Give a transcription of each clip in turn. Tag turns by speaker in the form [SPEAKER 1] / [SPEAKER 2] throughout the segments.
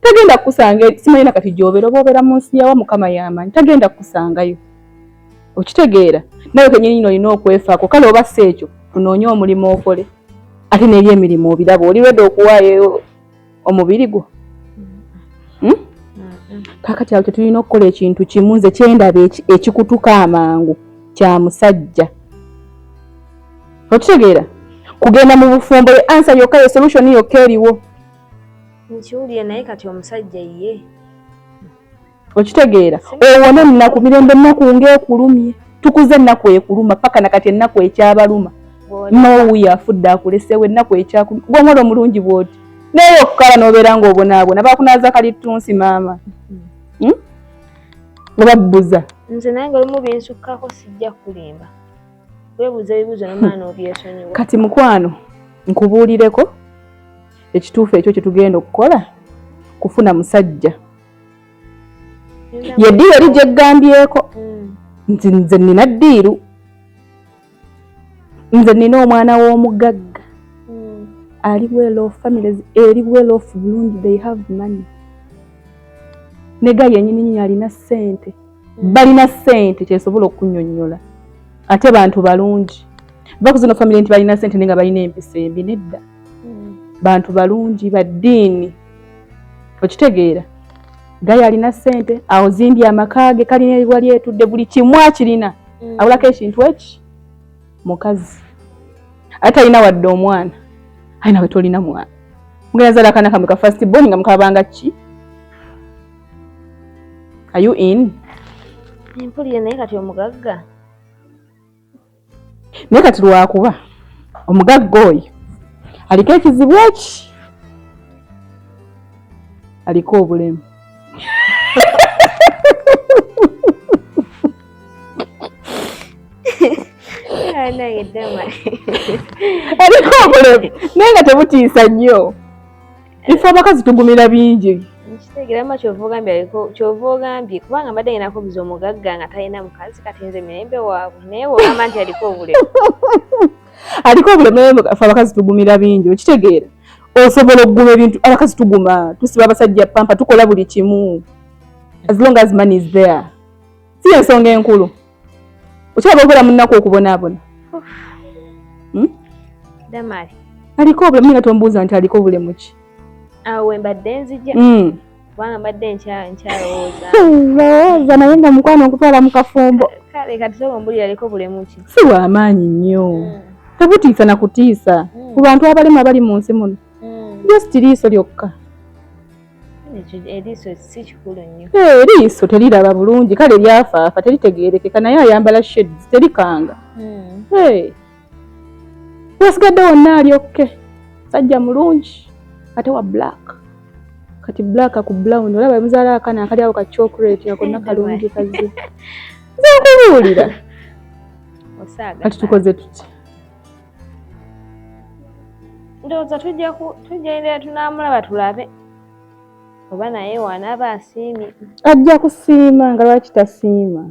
[SPEAKER 1] tagenda kukusanga simanyi nakati gyobera oba obera mu nsi yawa mukama yamanyi tagenda kukusangayo okitegeera nawe kenyini nyini olina okwefaako kale oba si ekyo tunoonye omulimu okole ate neri emirimu obiraba oli reda okuwaayo omubiri gwo hmm? kakati awo tetulina okukola ekintu kimu nze kyendaba ekikutuka amangu kya musajja okitegeera kugenda mu bufumbo ye ansa yokka ye solution yokka eriwo
[SPEAKER 2] nkiwulire naye kati omusajja ye okitegeera
[SPEAKER 1] owone ennaku mirembe ennaku ngaekulumye tukuze ennaku ekuluma paka nakati ennaku ekyabaluma nowuyo afudde akulesewo ennaku ekyakuluma gwomwola omulungi bwoti naye okukala nobeera nga obonaabona bakunaza kalittunsi maama hmm? obabbuza nze naye nga lumu
[SPEAKER 2] binsukkako sijja kulimba webuuza ebibuuzo nomaana obyesonyiwa kati mukwano
[SPEAKER 1] nkubuulireko ekituufu ekyo kyetugenda okukola kufuna musajja ye ddiiru eri gyeggambyeko mm. nti nze nina ddiiru nze nina omwana w'omugagga mm. ali well off families eri well off bulungi they have money nega yenyini nyini alina ssente balina sente kyesobola okunyonyola ate bantu balungi bakuzino family nti balina sente nenga balina empisa embi nedda hmm. bantu balungi baddiini okitegeera gaye alina sente aozimbye amaka ge kalina ebiwa lyetudde buli kimu akirina hmm. awulako ekintu eki mukazi ate alina wadde omwana ainawe tolina mwana mugenda zala akana kamwe ka first born nga mukabanga ki Are you in?
[SPEAKER 2] Mpulire naye kati omugagga.
[SPEAKER 1] Naye kati lwakuba omugagga oyo aliko ekizibu eki aliko obulemu. Aliko obulemu naye nga tebutiisa nnyo. ife abakazi tugumira bingi kitegera ma kyova
[SPEAKER 2] ogambye aliko kyova ogambye kubanga mbadde ngenda kubuza omugagga nga talina mukazi kati nze mirembe waabwe naye wogamba nti aliko obulemu
[SPEAKER 1] aliko obulemu naye fe abakazi tugumira bingi okitegeera osobola okuguma ebintu abakazi tuguma tusiba abasajja pampa tukola buli kimu as long as money is there si ensonga enkulu okyaba okola munaku okubonaabona hmm?
[SPEAKER 2] damali aliko obulemu
[SPEAKER 1] nga tombuuza nti aliko bulemu ki awo wembadde
[SPEAKER 2] nzija hmm. kubanga mbadde nkyalowooza lowooza
[SPEAKER 1] naye nga mukwano okutwala mu kafumbo kale kati soba ombulira
[SPEAKER 2] aliko bulemu ki si wamaanyi nnyo
[SPEAKER 1] hmm. tebutiisa na kutiisa ku bantu abalema bali mu nsi muno just liiso lyokka
[SPEAKER 2] eriiso si kikulu nnyo eh, eriiso teriraba
[SPEAKER 1] bulungi kale lyafaafa teritegeerekeka naye ayambala shades terikanga hmm. eh. wasigadde wonna ali okke sajja mulungi ate wa black kati black ku brown olaba muzaala akana akali awo ka chocolate ako nakalungi kazi nze nkubuulira kati tukoze tutya
[SPEAKER 2] ndowooza tujja endeera tunaamulaba tulabe oba naye waanaaba asiimye ajja kusiima
[SPEAKER 1] nga lwaki tasiima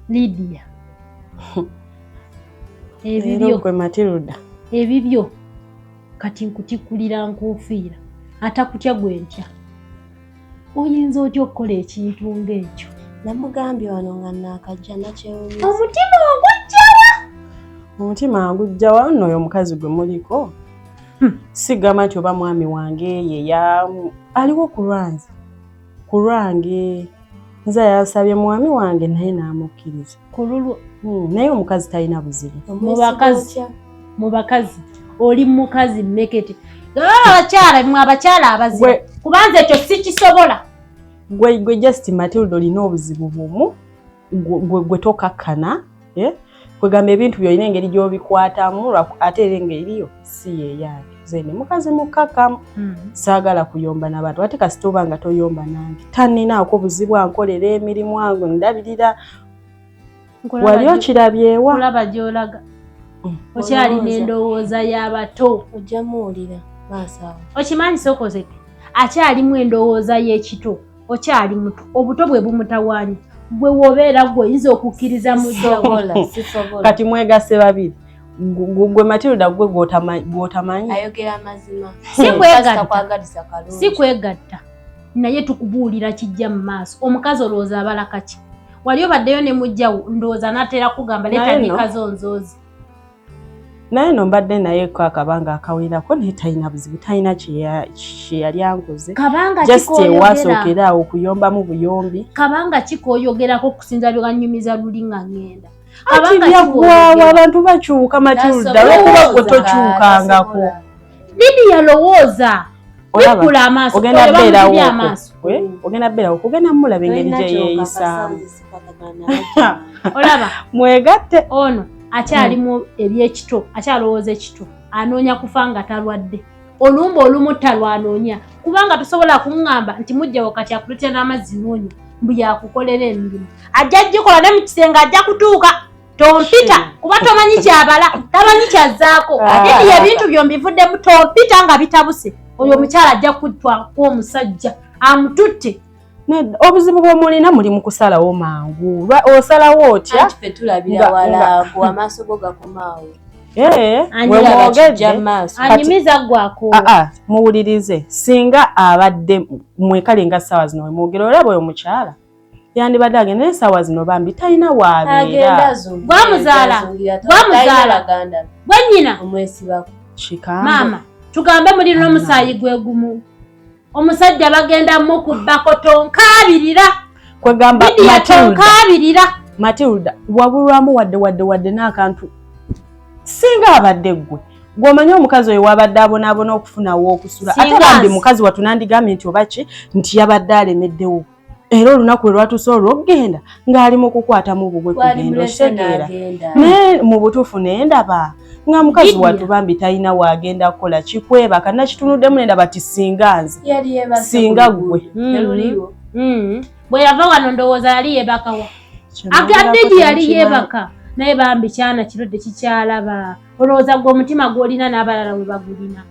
[SPEAKER 3] Lydia ebibyo kwe Matilda
[SPEAKER 4] ebibyo
[SPEAKER 3] kati nkutikulira nkufiira atakutya gwe ntya oyinza otya okukola ekintu ng'ekyo namugambye wano
[SPEAKER 5] nga naakajja nakyewunyisa omutima ogujjawa
[SPEAKER 3] omutima
[SPEAKER 4] agujjawa nno oyo omukazi gwe muliko Hmm, sigamba nti oba mwami wange yeya aliwo ku lwange ku lwange nze yansabye mwami wange naye n'amukkiriza ku lulwo hmm,
[SPEAKER 3] naye omukazi
[SPEAKER 4] talina buzibu mu bakazi
[SPEAKER 3] mu bakazi oli mukazi mmekete abakyala mwe abakyala abazibu kubanza ekyo sikisobola gwe gwe
[SPEAKER 4] just matilda olina obuzibu bumu gwe tokakkana eh? kwegamba ebintu byolina engeri gyobikwatamu ate era engeriyo si yeyange zene mukazi mukkakkamu hmm. saagala kuyomba nabantu ate kasita oba nga toyomba nange taninaako buzibu ankolera emirimu ange ndabirira wali okirabyewa olaba gyolaga
[SPEAKER 3] hmm. okyali nendowooza yabato ojjamuwulira
[SPEAKER 5] maaso awo okimanyi sokozete
[SPEAKER 3] akyalimu endowooza y'ekito okyali muto obuto bwe bumutawaanya gwe wobeera gwe oyinza okukkiriza musobola
[SPEAKER 5] kati mwegase
[SPEAKER 4] babiri gwe matilda gwe gwotamanyi ayogera
[SPEAKER 5] amazima
[SPEAKER 3] si kwegatta naye tukubuulira kijja mu maaso omukazi olowooza abala kaki wali obaddeyo ne mujjawo ndowooza natera kugamba letanikazo nzoozi
[SPEAKER 4] naye no mbadde naye ko akabanga akawerako naye talina buzibu talina kyeyali ankoze just ewasookera awo okuyombamu buyombi kabanga kikoyogerako
[SPEAKER 3] okusinza byewanyumiza luli nga ngenda ati
[SPEAKER 4] byagwawo abantu bakyuka matilda lwokuba gwe tokyukangako Bibi
[SPEAKER 3] yalowooza bikula amaaso ogenda beerawo
[SPEAKER 4] ogenda beerawo kugenda mulaba engeri gye yeeyisaamu
[SPEAKER 3] olaba mwegatte ono akyalimu hmm. ebyekito akyalowooza ekito anoonya kufa nga talwadde olumba olumu talwanoonya kubanga tosobola kuŋŋamba nti mujjawo kati akulutira n'amazzi noonya mbu yakukolera emirimu ajja jikola ne mu kisenge ajja kutuuka tompita kuba tomanyi kyabala tamanyi kyazzaako ate ah. ebintu byo mbivuddemu tompita nga bitabuse oyo omukyala ajja kuttwaku omusajja amututte obuzibu
[SPEAKER 4] bwomulina muli mukusalawo mangu osalawo otya eh,
[SPEAKER 3] ah, ah, muwulirize
[SPEAKER 4] singa abadde mwekale nga sawa zino wemwogera olaba oyo mukyala yandibadde agenda naye esaawa zino bambi talina waabeeragwamuzaala
[SPEAKER 3] gwamuzaala gwe nyina omwesibako
[SPEAKER 5] maama
[SPEAKER 3] tugambe muli nomusaayi gwe gumu omusajja bagenda mukubbako tonkaabirira kwegamba
[SPEAKER 4] tonkaabirira
[SPEAKER 3] matilda
[SPEAKER 4] wabulwamu wadde wadde wadde n'akantu singa abadde ggwe gwomanyi omukazi oyo wabadde abonaabona okufunawo okusula ate bambi mukazi watunandigambye nti oba ki nti yabadde alemeddewo era olunaku lwe lwatuuse olw'okugenda ng'ali mu kukwatamu bugwe kugenda okitegeera naye mu butuufu naye ndaba nga mukazi wattu bambi talina waagenda kukola kikwebaka nakitunuddemu ne ndaba ti singa nze singa ggwe
[SPEAKER 3] bwe yava wano ndowooza yali yebakawa akadigi yali yebaka naye bambi kyana kirudde kikyalaba olowooza gwe omutima gwolina n'abalala we bagulina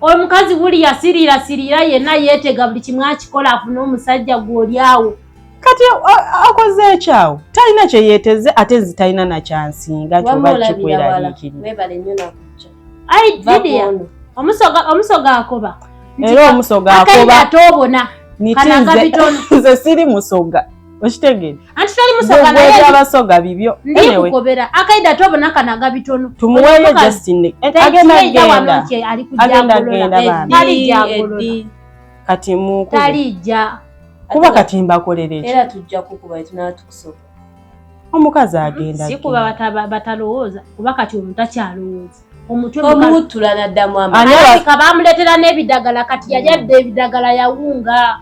[SPEAKER 3] omukazi buli yasiriira siriira yenna yeetega buli kimu akikola afune omusajja gw'oli awo kati
[SPEAKER 4] akoze ekyawo talina kye yeeteze ate nzi talina nakyansinga kyoba kikweraliikirira
[SPEAKER 3] omusoga akoba era omusoga
[SPEAKER 4] akoba
[SPEAKER 3] nze siri musoga
[SPEAKER 4] okitegere anti tali musoga
[SPEAKER 3] naye gwe abasoga bibyo
[SPEAKER 4] anyway kubera akaida
[SPEAKER 3] tobo nakana gabitono tumuwele just in
[SPEAKER 4] the agenda agenda agenda agenda bana tali ja
[SPEAKER 3] kati
[SPEAKER 4] mu tali ja kuba kati mbakolere era tujja kukuba
[SPEAKER 5] tunatukusoka omukazi
[SPEAKER 4] agenda si kuba bataba
[SPEAKER 3] batalowooza kuba kati omuntu akyalowooza omutwe omutula naddamu
[SPEAKER 5] amaka bamuletera
[SPEAKER 3] n'ebidagala kati yajadde ebidagala yawunga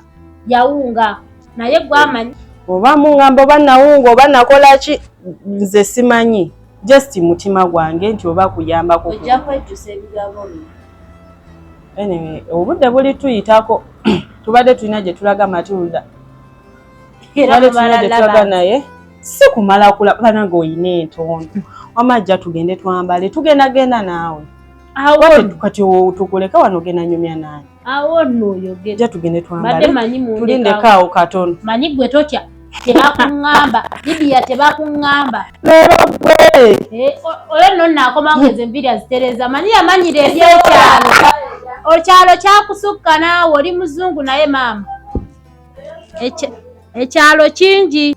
[SPEAKER 3] yawunga naye gwe amanyi oba mungamba
[SPEAKER 4] oba nawunga oba nakola ki nze simanyi just mutima gwange nti oba kuyambako ojja kwejjusa
[SPEAKER 5] ebigambo
[SPEAKER 4] bino anyway obudde buli tuyitako tubadde tulina gye tulaga matilda tubadde tulina gye tulaga naye si kumala kula banange olina entondo wama ajja tugende twambale tugenda genda naawe kati tukuleka wano genda nyumya naani awo nno oyogere
[SPEAKER 3] ja tugende twambale
[SPEAKER 4] manyi mu tulinde kaawo katono manyi gwe totya
[SPEAKER 3] tebakungamba bibiya tebakungamba lero gwe eh, oyo nno naakoma ngeze enviri azitereza manyi yamanyira ebyekyalo okyalo kyakusukka naawe oli muzungu naye maama ekyalo kingi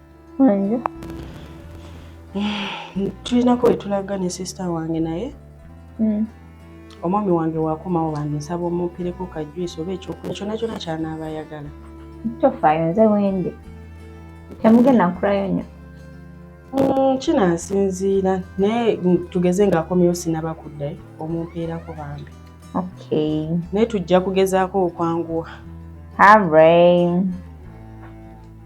[SPEAKER 4] tulinako wetulaga ne sisita wange naye hmm. omwami wange wakomawo bange nsaba omumpereko kajwisi oba ekyokulya kyona kyona kyanaaba ayagala tofaayo
[SPEAKER 2] nze wendi temugenda nkulayo nyo hmm, kinansinziira
[SPEAKER 4] naye tugeze ngaakomyewo sinaba kuddayo omumpeerako bambi naye tujja kugezaako okwanguwa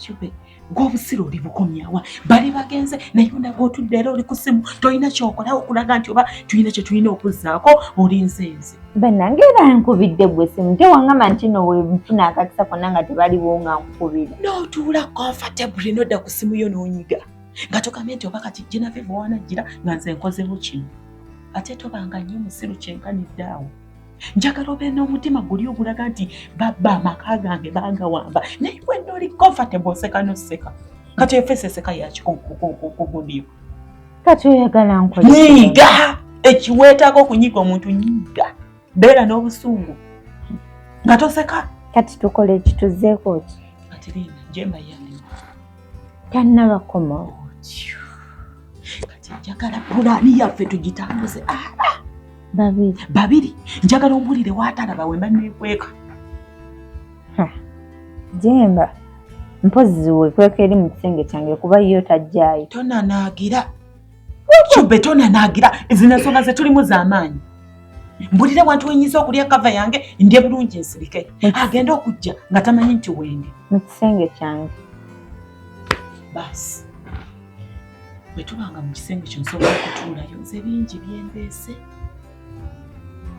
[SPEAKER 6] Shube, gw'obusiru oli bukomyawa bali bagenze naye ondaga otudde era oli ku ssimu tolina kyokolawo okulaga nti oba tulina kye tulina okuzzaako olinze nze banange era
[SPEAKER 2] nkubidde gwe simu te wangamba nti no wenfuna akakisa konna nga tebaliwo nga nkukubira notuula
[SPEAKER 6] comfortably nodda ku ssimu yo n'onyiga nga togambye nti oba kati jenaveva wanajjira nga nze nkozewo kino ate tobanga nnyo musiru kyenkanidde awo njagala obe n'omutima guli ogulaga nti babba amaka gange bangawamba naye bwedda oli comfortable oseka noseka kati efeesi eseka yakikugudiyo kati
[SPEAKER 2] oyagala nkolinyiga
[SPEAKER 6] ekiweetaako okunyiga omuntu nyiga beera n'obusungu nga toseka kati tukola
[SPEAKER 2] ekituzeeko ki kati liina jemba
[SPEAKER 6] yange tannabakoma
[SPEAKER 2] otyo
[SPEAKER 6] kati njagala pulaani yaffe tugitambuze ah, ah. babiri babiri njagala ombulire watalaba wemba nekweka
[SPEAKER 2] jemba mpozi wekweka eri mu kisenge kyange kuba yo tajjayo tonanaagira
[SPEAKER 6] Lwaki betona naagira zino ensonga ze tulimu z'amaanyi? Mbulire wantu wenyinza okulya kava yange ndye bulungi nsirike. Agenda okujja nga tamanyi nti wenge. Mu kisenge
[SPEAKER 2] kyange. Baasi.
[SPEAKER 6] Bwe tubanga mu kisenge kyo nsobola okutuulayo nze bingi byendeese.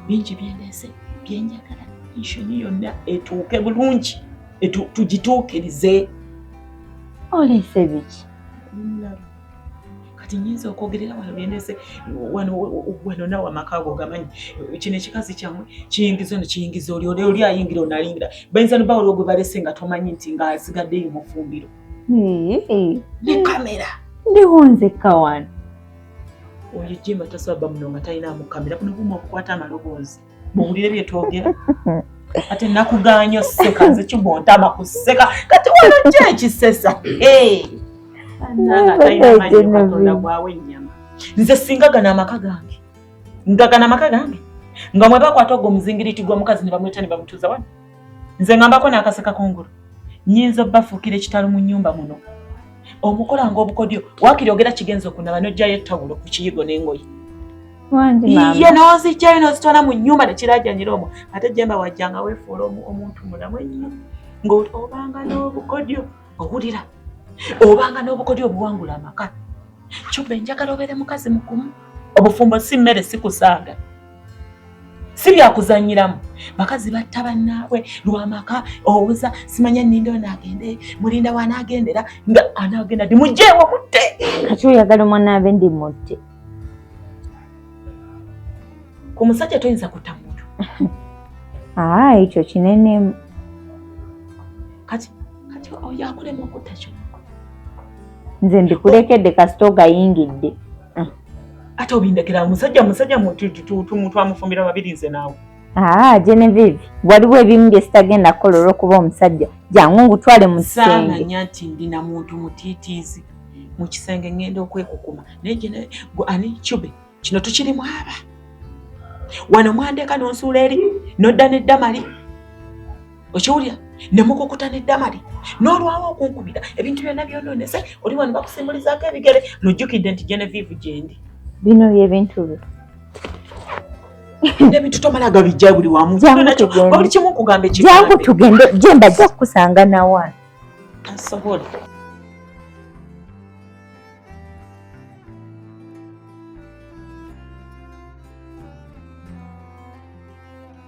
[SPEAKER 6] Bingi byendeese bye njagala enshoni yonna etuuke bulungi tugituukirize.
[SPEAKER 2] Oleese biki?
[SPEAKER 6] kati nyinza okwogerera wano byendese wano nawe amaka ago gamanyi kino ekikazi kyamwe kiyingiza ono kiyingiza oli oli oli ayingira onalingira bayinza noba waliwo gwe balese nga tomanyi nti nga asigaddeyo mufumbiro ne kamera ndiwo nzekka
[SPEAKER 2] wano
[SPEAKER 6] oyo jemba tasaba bamuno nga talina mukamera kuno buma okukwata amaloboozi muwulire bye twogera ate nakugaanyo seka nze kibwontama kuseka kati wano ki ekisesa anangatalinamanyiatonda gwawe ennyama nze singa gana amaka gange nga gana amaka gange nga mwebakwata ogwo omuzingiriti gwa mukazi ne bamweta ne bamutuuza wano nze ngambako n'akaseka kungulu nyinza obbafuukira ekitalo mu nnyumba muno omukola ng'obukodyo wakiri ogera kigenza okunaba n'oggyayo ettawulo ku kiyigo n'engoye iye n'ozijjayo n'ozitwala mu nnyumba ne kirajanyira omwo ate jemba wajja nga weefuula omuntu mulamu ennyo ng'obanga n'obukodyo owulira obanga n'obukodyo obuwangula amaka kyobba enjagala obeere mukazi mukumu obufumbo si mmere sikusaaga si byakuzanyiramu bakazi batta bannaabwe lwamaka owoza simanya ninda onagende mulinda wanagendera nga anagenda ti mujeewo mutte kati oyagala
[SPEAKER 2] omwanaabe ndi mutte
[SPEAKER 6] ku musajja toyinza kutta muntu aa
[SPEAKER 2] ekyo kinenemu
[SPEAKER 6] kati kati oyakulema okutta kyo
[SPEAKER 2] nze ndikulekedde kasita ogayingidde
[SPEAKER 6] ate obindekera musajja musajja muntu amufumbira babiri nze naawe aa ah, genevieve
[SPEAKER 2] waliwo ebimu bye sitagenda kukola olwokuba omusajja jangu ngutwale mu kisengesaamanya nti ndina
[SPEAKER 6] muntu mutiitiizi mu kisenge ngenda okwekukuma naye ani cube kino tukirimu aba wano mwandeka nonsuula eri nodda neddamali okiwulira ne mukukuta ne damali n'olwawo okunkubira ebintu byonna byonoonese oli wano bakusimbulizaako ebigere lujjukidde nti genevive gyendi bino byebintu
[SPEAKER 2] byo
[SPEAKER 6] ebintu tomala gabijja buli wamu buli kimu nkugamba ekijangu tugende
[SPEAKER 2] gye mbajja kukusanga nawa tasobola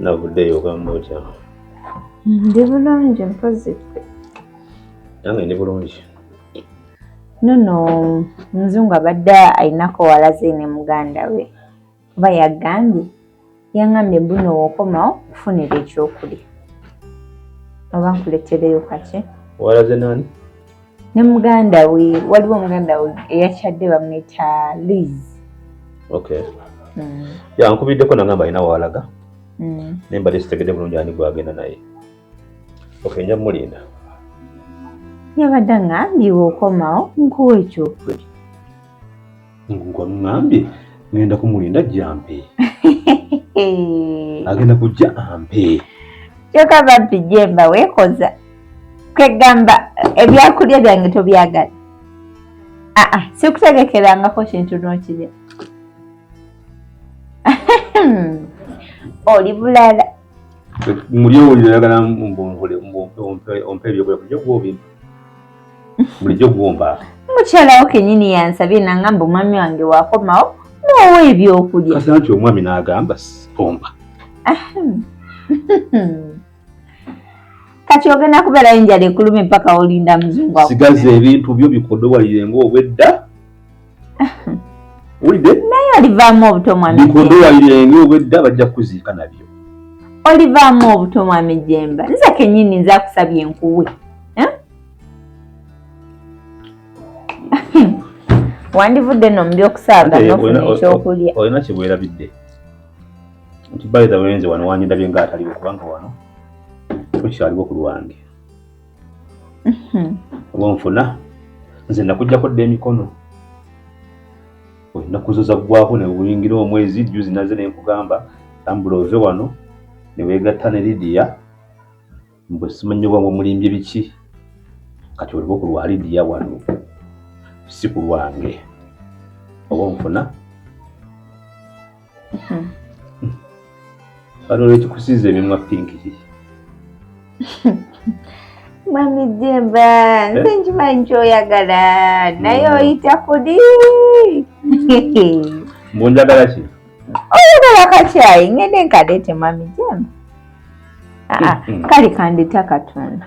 [SPEAKER 2] navuddeyo
[SPEAKER 7] ogamba otya ndi
[SPEAKER 2] bulungi mpozi
[SPEAKER 7] nange ndi bulungi nono
[SPEAKER 2] omuzungu abadde alinako walaze ne muganda we kuba yagambye yangambye mbuno wokomawo kufunira ekyokulya oba nkuletereyo kaki walaze nani
[SPEAKER 7] ne
[SPEAKER 2] muganda we waliwo muganda we eyakyadde bamwita liz okay
[SPEAKER 7] mm. yankubiddeko nangamba alina walaga mm. ne mbadde sitegedde bulungi ani gwagenda naye okay nja mulinda
[SPEAKER 2] yabadde ng'ambiwa okomawo nkuwa ekyokuli ngwamugambye
[SPEAKER 7] ngenda kumulinda jampe agenda kujja ampe kyoka
[SPEAKER 2] babbi jemba wekoza kwegamba ebyakulya byange tobyagala aa ah, ah, sikutegekerangako kintu nokirya oli bulala muli
[SPEAKER 7] owulira oyagala ompa ebyokulya bulijjo gwobimpa bulijjo gwomba mukyalawo
[SPEAKER 2] kenyini yansabye nangamba omwami wange wakomawo noowa ebyokulya kasa nti omwami
[SPEAKER 7] nagamba omba
[SPEAKER 2] kati ogenda kubeerayo enjala ekuluma empaka olinda muzungu sigaza ebintu byo
[SPEAKER 7] bikodowalire ngaobwedda wulidde naye olivaamu obuto
[SPEAKER 2] mwami bikondo walirenga obwedda
[SPEAKER 7] bajja kukuziika nabyo olivaamu
[SPEAKER 2] obuto mwami jemba nze kenyini nze akusabye enkuwe eh? wandivudde no mu byokusaaga nofuna ekyokulya olina kyebwerabidde
[SPEAKER 7] nti bayitha wenze wano wanyindabye nga ataliwo kubanga wano kukyaliwo ku lwange Mhm. wonfuna nze nakujjako dda emikono ennaku zo zaggwako ne buyingira omwezi juzi naze ne nkugamba tambula ove wano ne weegatta ne lidiya mbu simanyi oba mumulimbye biki kati oliba ku lwa lidiya wano si ku lwange oba onfuna Bano hmm. lwekikusiiza emimwa pinki kiki
[SPEAKER 2] mami jemba nze eh? nkimanyi kyoyagala naye hmm. oyita kudi
[SPEAKER 7] mbunjagala ki oyagala
[SPEAKER 2] kakyayi ngende nkadete mami jemba ah, ah, hmm. kali kandita katunda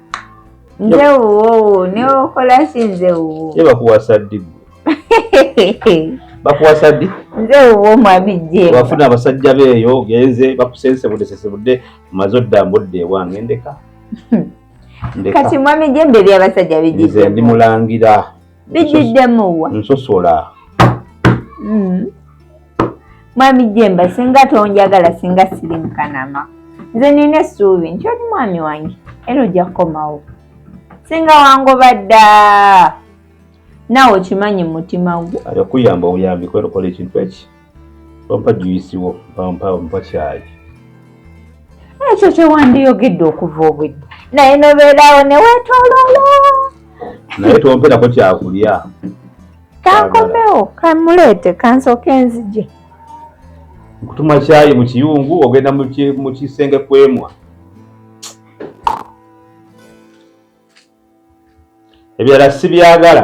[SPEAKER 2] nze wuwo newokola ki nze wuwo ye bakuwasa ddi
[SPEAKER 7] bakuwasa ddi nze wuwo mwami
[SPEAKER 2] je wafuna abasajja beeyo
[SPEAKER 7] ogenze bakusensebude sesebude maze odda mbudde ewange ndeka
[SPEAKER 2] kati mwami je mberi abasajja begize ndi mulangira
[SPEAKER 7] bijiddemuwa
[SPEAKER 2] nsosola
[SPEAKER 7] mm.
[SPEAKER 2] mwami jemba singa tonjagala singa siri mukanama nze nina essuubi nti oli mwami wange era ojja kukomawo singa wangoba dda naawe okimanyi mumutima gwo ayakuyamba obuyambi
[SPEAKER 7] kwerokola ekintu eki bampa juyisi wo bampa mpa kyayi
[SPEAKER 2] ekyo kyewandiyogedde okuva obwedda naye nobeerawo newetololo naye
[SPEAKER 7] tomperako kyakulya
[SPEAKER 2] kankomewo kamuleete kansooka enzije
[SPEAKER 7] nkutuma kyayi mu kiyungu ogenda mu kisenge kwemwa ebirala sibyagala